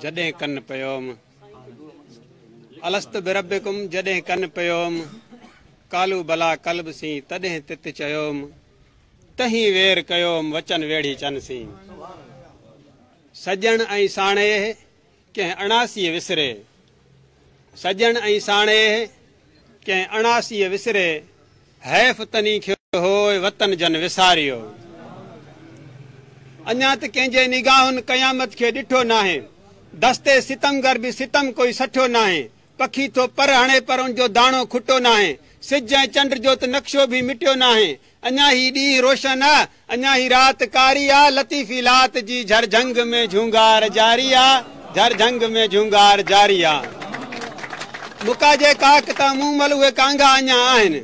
جڏهن ڪن پيوم الست بربڪم جڏهن ڪن پيوم ڪالو بلا قلب سين تڏهن تت چيوم تهين وير ڪيوم وچن ويڙهي چن سين سڄڻ ۽ ساڻيهه ڪنهن اڻاسي وسري سڄڻ ۽ ساڻيهه ڪنهن اڻاسيء وسري، حيف تني کي هوء وطن جن وساريو. اڃا ته ڪنهن جي نگاهن قيامت کي ڏٺو ناهي، دستي ستمگر به ستم ڪوئي سٺيو ناهي، پکي ٿو پر هڻي پر ان جو داڻو کٽو ناهي، سج ۽ چنڊ جو ته نقشو به مٽيو ناهي، اڃا هي ڏينهن روشن آ، اڃا هي رات ڪاري آ، لطيفي لات جي جھر جھنگ ۾ جھونگار جاري آ، جھر جھنگ ۾ جھونگار جاري آ. مڪا جي ڪاڪ تان مون مل اهي ڪانگا اڃا آهن،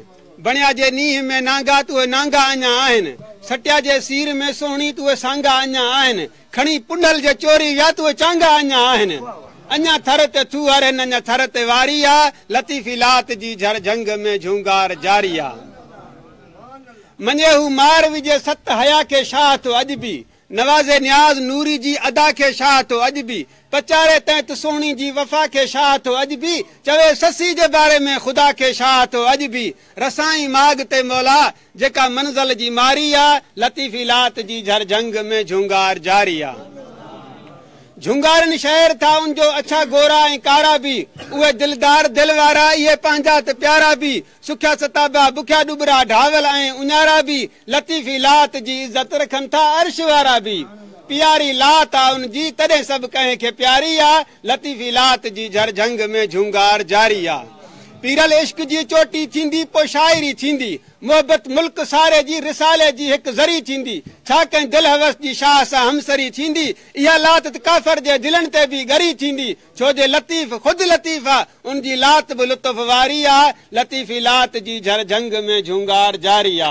بڻيا جي نينهن ۾ نانگا ته اهي نانگا اڃا آهن، سٽيا جي سير ۾ سهڻي ته اهي سانگا اڃا آهن، کڻي پنهل جي چوري ويا تهي چانگا اڃا آهن اڃا ٿر تي ٿو هرهن اڃا ٿر تي واري آ لطيفي لات جي جهر جهنگ ۾ جهونگار جاري آ مڃي هو مار وجهي ست حيا کي شاهه ٿو اڄ به نوازي نياز نوري جي ادا کي شاهه ٿو اڄ به پچاري تنهت سهڻي جي وفا کي شاهه ٿو اڄ به چوي سسي جي باري ۾ خدا کي شاهه ٿو اڄ به رسائين ماڳ تي مولا جيڪا منزل جي ماري آ. لطيفي لات جي جھر جھنگ ۾ جھونگار جاري آ. جھونگارن شعر ٿا ان جو اڇا گورا ۽ ڪارا بي. اهي دلدار دل وارا اهي پنهنجا ته پيارا بي. سکيا ستابا بکيا ڏٻرا ڍاول ۽ اڃارا بي. لطيفي لات جي عزت رکن ٿا عرش وارا بي. پياري لات آ ان جي تڏهن سڀ ڪنهن کي پياري آ. لطيفي لات جي جھر جھنگ ۾ جھونگار جاري آ پيرل عشق جي چوٽي ٿيندي پوء شاعري ٿيندي محبت ملڪ ساري جي رسالي جي ھڪ ذري ٿيندي ڇا ڪنھن دل ھوس جي شاھ سان ھمسري ٿيندي اھا لات تھ ڪافر جي دلن تي به ڳري ٿيندي ڇو جي لطيف خود لطيف آ ان جي لات به لطف واري آ لطيفي لات جي جھر جھنگ ۾ جھونگار جاري آ.